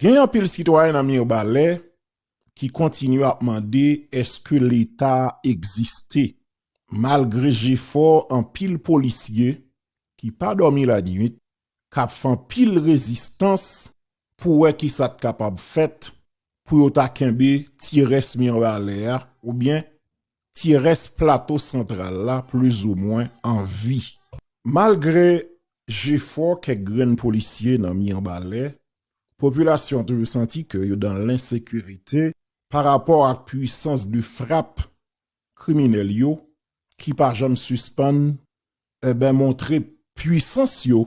Gen anpil sitwayen nan Mirbalè ki kontinye ap mande eske leta egziste. Malgre jefò anpil polisye ki pa dòmi lanwit, k ap fè anpil rezistans pou wè ki sa t kapab fèt pou yo ta kenbe ti rès Mirbalè a oubyen Ti rès Plato Santral la plizoumwen an vi. Malgre jefò kèk grenn polisye nan Mirbalè, popilasyon an toujou santi ke yo dan lensekirite parapò ak pwisans de frap kriminèl yo ki pa janm sispann enben montre pwisans yo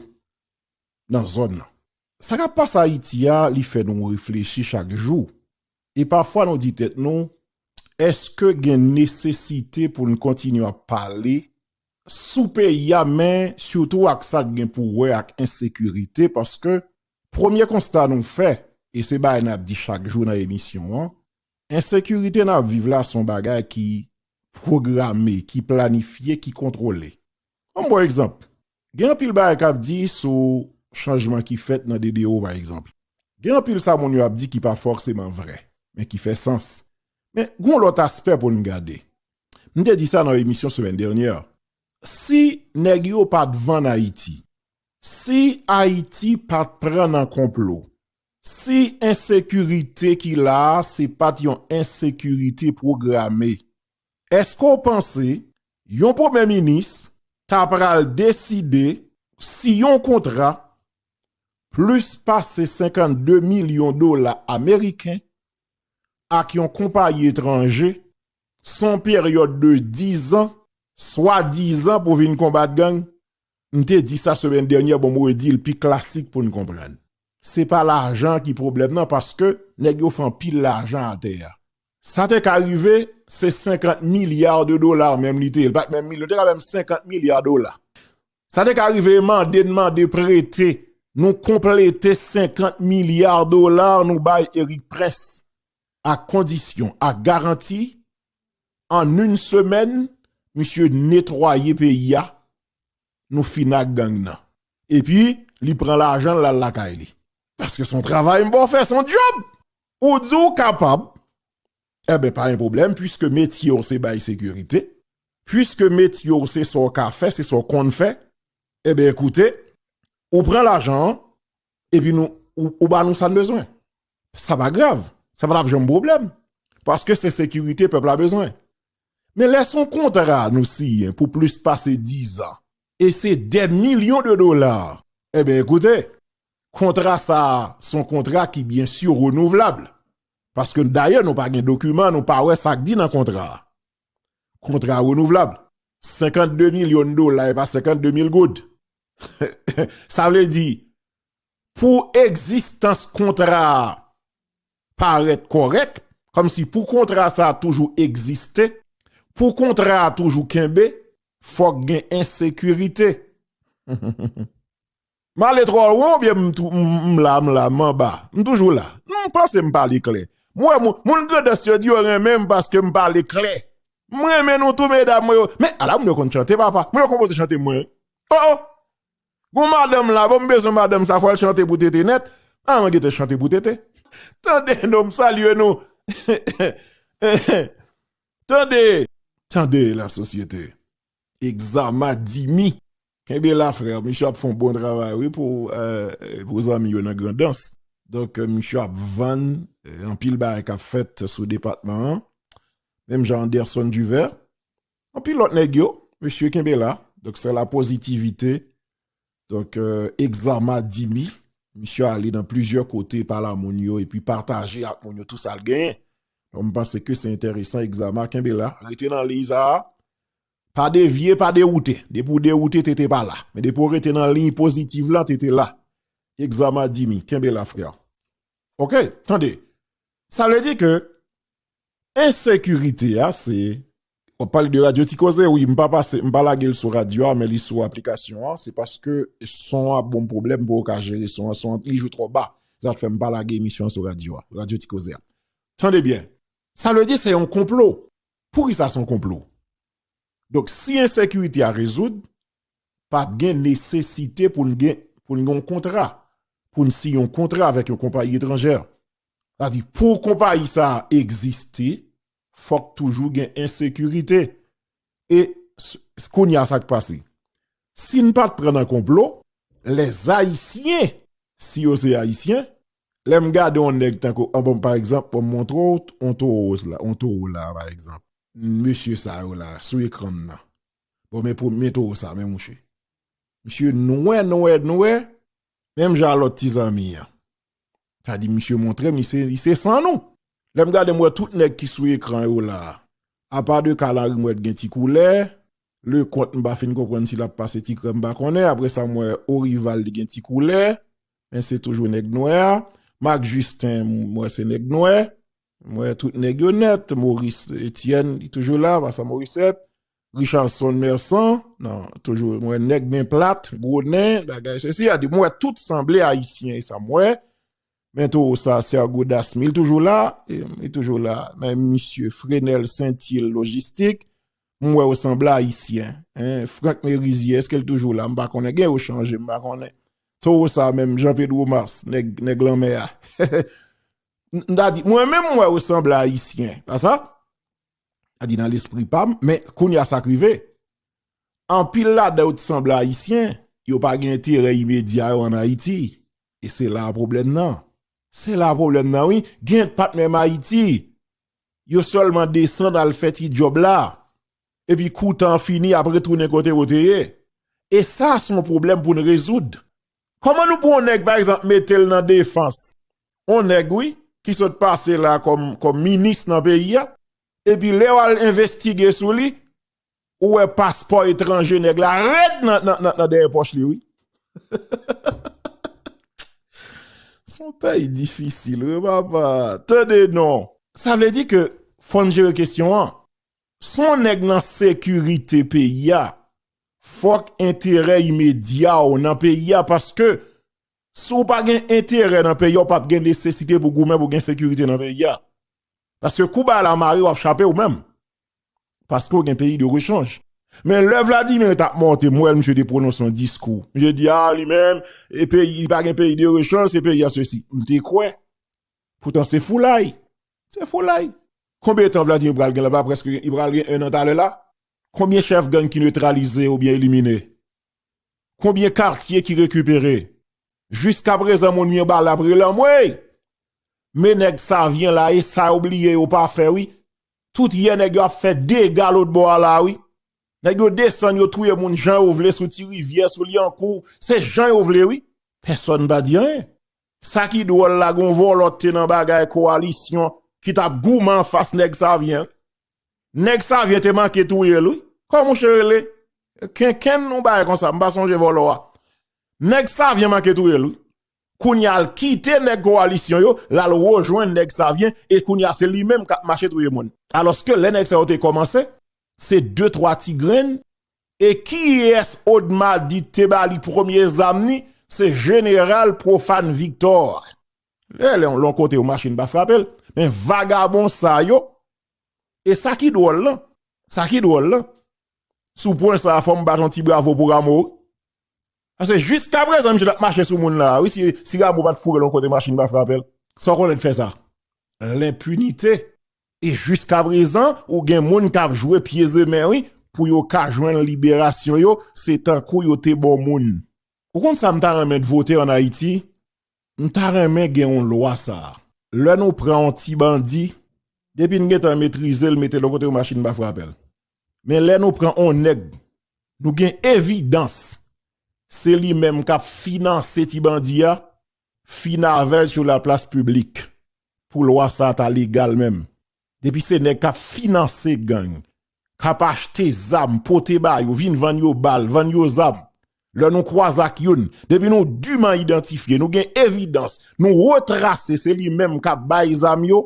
nan zòn nan. Sa k ap pase Ayiti a li fè nou reflechi chak jou E pafwa nou di tèt nou, Èske gen nesesite pou n kontinye ap pale sou peyi a men sitou ak sa k gen pou wè ak ensekirite paske premye konsta nou fè e se bagay n ap di chak jou nan emisyon an, ensekirite n ap viv la se yon bagay ki pwograme, ki planifye, ki kontwole. An m ba w egzanp. Gen anpil bagay k ap di sou chanjman ki fèt nan DDO pa egzanp. Gen anpil sa moun yo ap di ki pa fòseman vrè, men ki fè sans. Men gen yon lòt aspè pou n gade. M te di sa nan yon emisyon semèn dènyè. Si nèg yo pa t vann Ayiti, si Ayiti pa t pran nan konplo, si ensekirite ki la a se pa t yon ensekirite pwograme, Eske w panse yon premye minis ta pral deside si yon kontra plis pase 52 milyon dola ameriken ak yon konpayi etranje se yon peryòd de 10 an swadizan pou vin konbat gang? M te di sa semèn dènyè bon m redi l pi klasik pou n konprann. Se pa lajan ki pwoblèm nan paske nèg yo fè anpil lajan atè a. Sa te ka rive, se 50 milliards de dollars menm li te ye, li pa t menm milyon, li te ka menm 50 milliards dola. Sa te ka rive e mande n mande prete, nou konplete 50 milliards dollars nou bay Erik Prince ak kondisyon, ak garanti, an yn semèn, misye netwaye peyi a, nou fini ak gang nan. Epi, li pran lajan l, l al lakay li. Paske s on travay m ba w fè, s on djòb! Ou di w kapab, enben pa gen pwoblèm, puiske metye w se bay sekirite, puiske metye w se sa w ka fè, se sa w konn fè, enben koute, ou pran lajan an, epi nou, ou ba nou sa n bezwen. Sa pa grav, sa pa t ap janm pwoblèm, paske se sekirite pèp la bezwen. Men lè son kontra nou siyen pou plis pase dizan, e se dè milyon de dola, enben koute, Kontra sa a se yon kontra ki byen si renouvlab, paske dayè nou pa gen dokiman, nou pa wè sa k di nan kontra a. Kontra renouvlab. 52 milyon dola e pa 52 mil goud. Sa vle di, pou egzistans kontra a parèt kòrèk, kòm si pou kontra sa a toujou egziste, pou kontra a toujou kenbe, fòk gen ensekirite. M ale twò lwen oubyen m tou m la m la m anba? M toujou la. M panse m pale klè. M wè moun moun Grandans yo di yo renmen m paske m pale klè. M renmen nou tou medam mwen yo. Men ala moun yo konn chante papa. Moun yo konpoze chante pou mwen wi. O o! Gon madanm la bon m bezwen madanm sa fò l chante pou Tete nèt. Ala mwen gentan chante pou Tete. Tande non m salye nou. Tande! Tande la sosyete. Exama Dimy. Kenbe la frère, misye ap fon bon travay wi pou zanmi yo nan Grandans. Donk misye ap vann anpil bagay kap fèt sou depatman an. Menm jan Anderson Duvert. Anpil lòt nèg yo. Mesye kenbe la. Donk se la pozitivite Donk Exama di li, misye ale nan plizyè kote pale a moun yo epi pataje ak moun yo tou sa l genyen. Donk m panse ke se enteresan Exama kenbe la, rete nan liy sa a, pa devye, pa dewoute. Depi w dewoute TT pa la. Men depi w rete nan liy pozitiv la TT la. Exama di mi, kenbe la frè. Ok, tande. Sa vle di ke Ensekirite a se, wap pale de radyo ti koze wi m pa pase m pa lage l sou radyo a men li sou aplikasyon an se paske son an bon pwoblèm pou ou ka jere son an son an li jwe twò ba se sak fè m pa lage emisyon an sou radyo a radyo ti koze a tande byen. Sa vle di se yon konplo. Poukisa se yon konplo? Donk si ensekirite a rezoud pap gen nesesite pou n gen pou n gen yon kontra pou n siyen yon kontra avèk yon konpayi etranjè Sa vle di pou konpayi sa a egziste, fòk toujou gen ensekirite. E kounye a sa k pase? Si n pa t pran nan konplo, lèzayisyen, si yo se ayisyen, lè m gade yon nèg tankou, an bon pa egzanp, bon m montre w yon towo s la, yon towo la a pa egzanp, mesye sa yo la a sou ekran m nan, bon men premye towo sa a men mouche, misye nwè nwè nwè, menm jan a lòt ti zanmi an, Sa di misye montre m li se san nou. Lèm gade m wè tout nèg ki sou ekran yo la apa de Carl Henry m wè t gen ti koulè, Leconte m pa fin konprann si lap pase ti krèm m pa konnen aprè sa m wè Orival li gen ti koulè men se toujou nèg nwè a, Marc Justin m wè se nèg nwè, m wè tout nèg yo nèt, Maurice Etienne li toujou la, Vincent Morisset, Richardson Merçan, nan, toujou, m wè nèg nen plat, gwo nen, bagay se si, adi m wè tout sanble ayisyen e sa m wè, men towo sa Sergo Das Mil toujou la, e toujou la, men misye Frenel Saintil Logistik, m wè yo sanble ayisyen, e Frank Merizier, eske l toujou la, m pa konnen, gen yo chanje, m pa konnen, towo sa menm Jean Pedro Mars, nèg lanmè a, he he, m ta di, mwen menm m wè yo sanble ayisyen, pa sa? A di nan lespri pa m, men kounye a sa k rive. Anpil ladan yo t sanble Ayisyen, yo pa gen enterè imedya yo an Ayiti. E se la pwoblèm nan. Se la pwoblèm nan wi. Gen t pat menm Ayiti. Yo sèlman desann al fè ti dyòb la. E pi kou tan an fini y ap retounen kote yo te ye. E sa s on pwoblèm pou n rezoud. Koman nou pou yon nèg pa egzanp metel nan defans yon nèg wi ki sot pase la kòm minis nan peyi a epi lèw al envestige sou li ou wè paspò etranje nèg la rèd nan dèyè pòch li wi son peyi difisil wi papa tande non. Sa vle di ke fòn jere kesyon an son nèg nan sekirite peyi a Fòk enterè imedya w nan peyi a paske si w pa gen enterè nan peyi a w pap gen nesesite pou goumen pou gen sekirite nan peyi a. Paske kou bal la mare w ap chape ou menm. Paske w gen peyi de rechanj. Men lè Vladimir t ap monte m wè l misye te pwononse yon diskou. Misye di a li menm e peyi li pa gen peyi de rechanj se peyi a sesi. M te kwè. Poutan se foulay. Se foulay. Konbyen tan Vladimir pral gen la? Li pral gen 1 an talè la? Konbyen chèf gang ki netralize oubyen elimine? Konbyen katye ki rekipere? Jiskaprezan moun mwen bal ap rele anmweyy! Men nèg Savyen la e sa yo bliye yo pa fè wi. Tout yè nèg yo ap fè dega lotbò a la wi. Nèg yo desann yo touye moun jan yo vle sou Ti Rivyè, sou Lyankou, se jan yo vle wi. Pèsòn pa di anyen. Sa ki dwòl la gon vòlò te nan bagay kowalisyon ki t ap goumen anfas nèg Savyen wi. Nèg savyen te manke touye l wi. Kò mouche rele kenkenn yon bagay konsa m pa sonje vòlò a. Nèg savyen manke touye l wi. Kounya l kite nèg kowalisyon yo l al rejwenn nèg savyen e kounya se li menm k ap mache touye moun. Alòske lè nèg sa yo te kòmanse se de twa ti grenn e kiyès Odma di te ba li premye zam ni se jeneral Profane Victor. Lè lè yon kote yon machin pa frape l, men vagabon sa yo, e sa ki dwòl lan, sa ki dwòl lan, sou pwen sa a fò m bat yon ti bravo pou Ramo wi, paske jiska prezan misye t ap mache sou moun la a wi si Ramo pa t foure l yon kote machin pa frape l. Sa w konnen ki fè sa? Lenpinite. E jiska prezan ou gen moun k ap jwe pye ze men wi pou yo ka jwenn liberasyon yo, se tankou yo te bon moun. Ou konn sa m ta renmen t vote an Ayiti? M ta renmen gen yon lwa sa a. Lè nou pran yon ti bandi, depi n gentan metrize l, mete l yon kote pou machin pa frape l. Men lè nou pran yon nèg, nou gen evidans se li menm k ap finanse ti bandi a, fin avè l sou laplas piblik pou lwa sa a ta legal menm. Depi se nèg kap finanse gang, kap achte zam pote ba yo, vin vann yo bal, vann yo zam, lè nou kwaze ak youn, depi nou diman idantifye, nou gen evidans, nou retrase se li menm kap bay zam yo,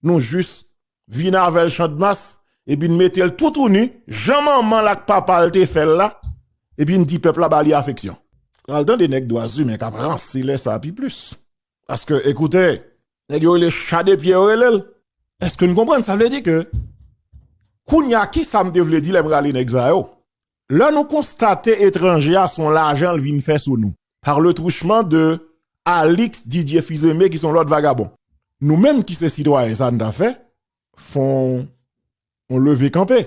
nou jis vin avèl chandmas, epi n metel toutouni, jan manmanl ak papal te fèl la, epi n di pèp la ba li afeksyon. Pral tande nèg dwazimen kap ranse lè sa pi plis. Paske ekoute, nèg yo rele cha de pye yo rele l. Eske n konprann sa vle di ke kounya ki sa m te vle di lè m rale nèg sa yo? Lè nou konstate etranje a son lajan l vin fè sou nou par le truchement de Alix Didier Fils Aimé ki son lòt vagabon. Nou menm ki se sitwayen sa n ta fè? Fon on leve kanpe.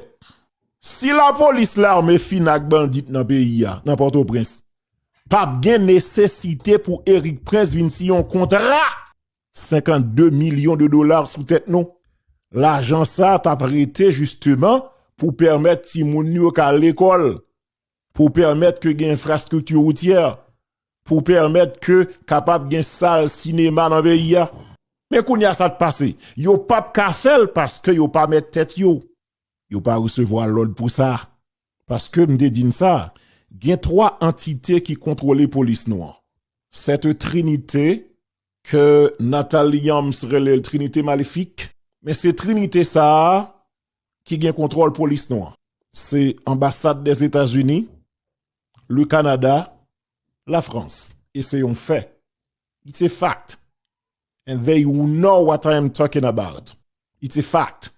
Si lapolis lame fin ak bandit nan peyi a, nan pòtoprens, pap gen nesesite pou Erik Prince vin siyen on kontra 52 milyon de dola sou tèt nou. Lajan sa tap rete jisteman pou pèmèt timoun nou yo ka al lekòl. pou pèmèt ke gen enfrastrikti woutyè, pou pèmèt ke kapab gen sal sinema nan peyi a. Men kounye a sa k pase? Yo p ap ka fè l paske yo pa mèt tèt yo. Yo pa resevwa lòd pou sa. Paske, m te di n sa, gen twa antite ki kontwole polis nou an. Sète trinite ke Nathan Lyons rele l trinite malefik. Men se trinite sa a ki gen kontwòl polis nou an. Se anbasad Dèzetazini, Le Kanada, La Frans. E se yon fè. It's a fact. And they know what I am talking about. It's a fact.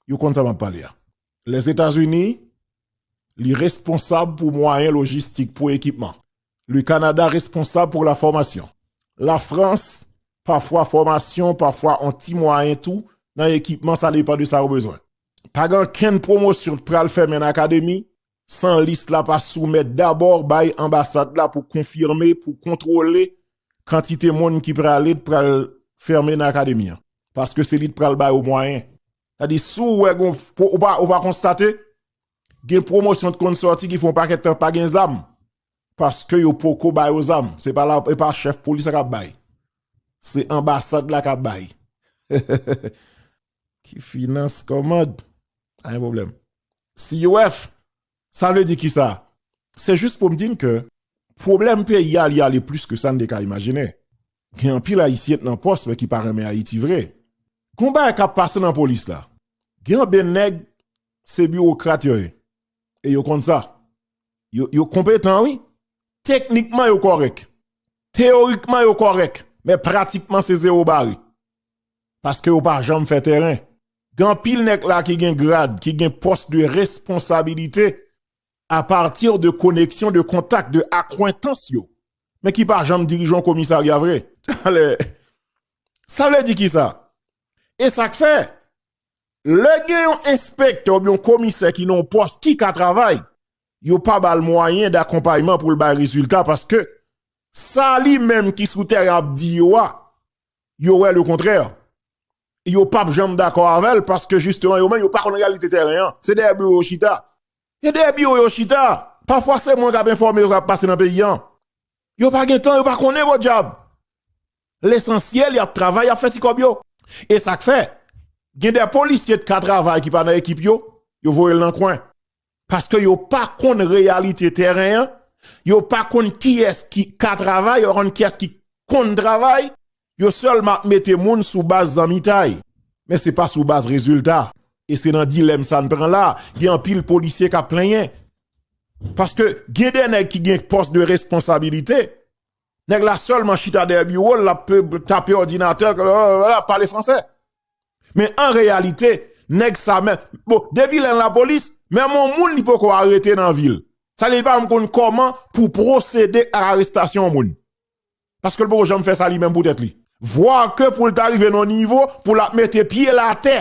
Yo konn sa m ap pale a. Lèzetazini, li responsab pou mwayen lojistik, pou ekipman. Le Canada responsab pou la fòmasyon. La Frans, pafwa fòmasyon, pafwa on ti mwayen tou, nan ekipman sa depan de sa yo bezwen. Pa gen ankenn pwomosyon k pral fè men Akademi, san lis la pa soumèt dabò bay anbasad la pou konfime, pou kontwole kantite moun ki prale t pral fè men Akademi an. Paske se li t pral ba yo mwayen. Sa di si w wè gen, ou pa konstate, Gen pwomosyon t konn sòti ki fè yon pakèt tan pa gen zam paske yo poko ba yo zam se pa la e pa chèf polis la kap bay se anbasad la kap bay ki finans kòmand pa gen pwoblèm CUF sa vle di kisa se jis pou m di n ke pwoblèm peyi a li ale plis ke sa n te ka imajine Gen anpil ayisyen t nan pòs men ki pa renmen ayiti vre. Gon bagay kap pase nan polis la. Gen anben nèg se biwokrat yo ye e yo konn sa. Yo konpetan wi. Teknikman yo kòrèk. Teyorikman yo kòrèk men pratikman se zewo bare. Paske yo pa janm fè tèren. Gen anpil nèg la ki gen grad, ki gen pòs de responsabilite a pati de koneksyon, de kontak, de akwentans yo, men ki pa janm dirije yon komisarya vre. Alè, sa vle di ki sa? E sa k fè, lè gen yon enspektè oubyen yon komisè ki nan yon pòs ki ka travay, yo pa ba l mwayen dakonpayman pou l bay rezilta paske sa li menm ki sou tèren ap di yo a, yo wè lekontrè. Yo pap janm dakò avè l paske jisteman yo menm yo pa konn reyalite tèren an. Se dèyè biwo yo chita. Gen dèyè biwo yo chita, pafwa se mwen kap enfòme yo sa kap pase nan peyi an. Yo pa gen tan, yo pa konnen podyab. Lesansyèl yap travay, yap fè ti kòb yo. E sak fè, gen dè polisye t ka travay ki pa nan ekip yo, yo voye l nan kwen. Paske yo pa konn reyalite tèren an, yo pa konn kiyès ki ka travay, yo pa konn kiyès ki konn travay, Yo sèlman ap mete moun sou baz zanmitay, men se pa sou baz rezilta. E se nan dilèm sa n pran la, gen anpil polisye k ap plenyen. Paske gen de nèg ki gen pòs de responsabilite, nèg la sèlman chita dèyè biwo l, l ap tape òdinatè l, l ap pale fransè. Men an reyalite, nèg sa menm, bon, depi lè nan lapolis, menm yon moun li poko arete nan vi l. Sa vle di li pa menm konn kòman pou pwosede ak arestasyon yon moun. Paske l poko janm fè sa li menm pou tèt li. Vwa ke pou l ta rive nan yon nivo pou l ap mete pye l atè,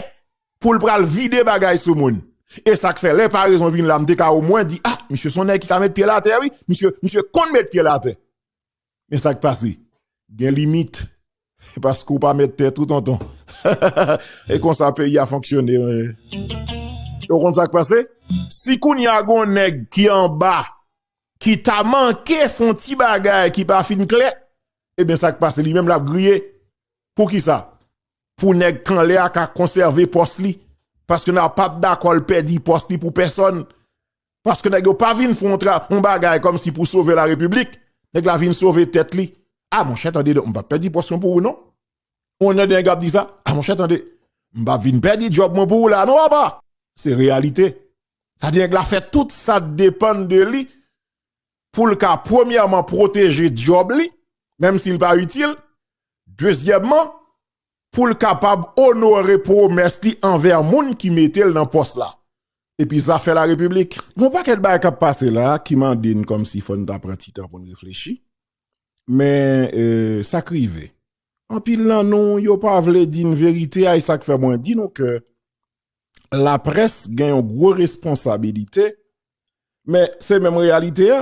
pou l pral vide bagay sou moun. E sa k fè lè parezon vin la m te ka omwen di a, misye son nèg ki ka met pye l atè wi, misye konn met pye l atè. Men sa k pase, gen limit. Paske ou pa mèt tè tou tonton. E konsa peyi a fonksyone. E w konn sa k pase, si kounye a gen yon nèg ki anba ki ta manke fon ti bagay ki pa fin klè, ebyen sa k pase li menm l ap griye. Pou ki sa? Pou nèg kanlè a ka konsève pòs li, paske nan pa p dakò l pèdi pòs li pou pèsòn, paske nèg yo pa vin fon yon tra, yon bagay kòm si pou sove la repiblik, nèg la vin sove tèt li. A monchè tande non, m pa p pèdi pòs mwen pou ou non. On nèg nèg ap di sa, a monchè tande, m pa vin pèdi djòb mwen pou ou la non papa, se reyalite. Sa di nèg la fè tout sa depann de li pou l ka premyèman pwoteje djòb li, menm si l pa itil, dezyèmman pou l kapab onore pwomès li anvè moun ki mete l nan pòs la. Epi zafè larepiblik. Gon pakèt bagay k ap pase la ki mande n kòmsi fò n ta pran ti tan pou n reflechi. Men sa k rive, anpil nan nou yo pa vle di n verite a, e sa k fè mwen di nou ke laprès gen yon gwo responsabilite, men se menm reyalite a.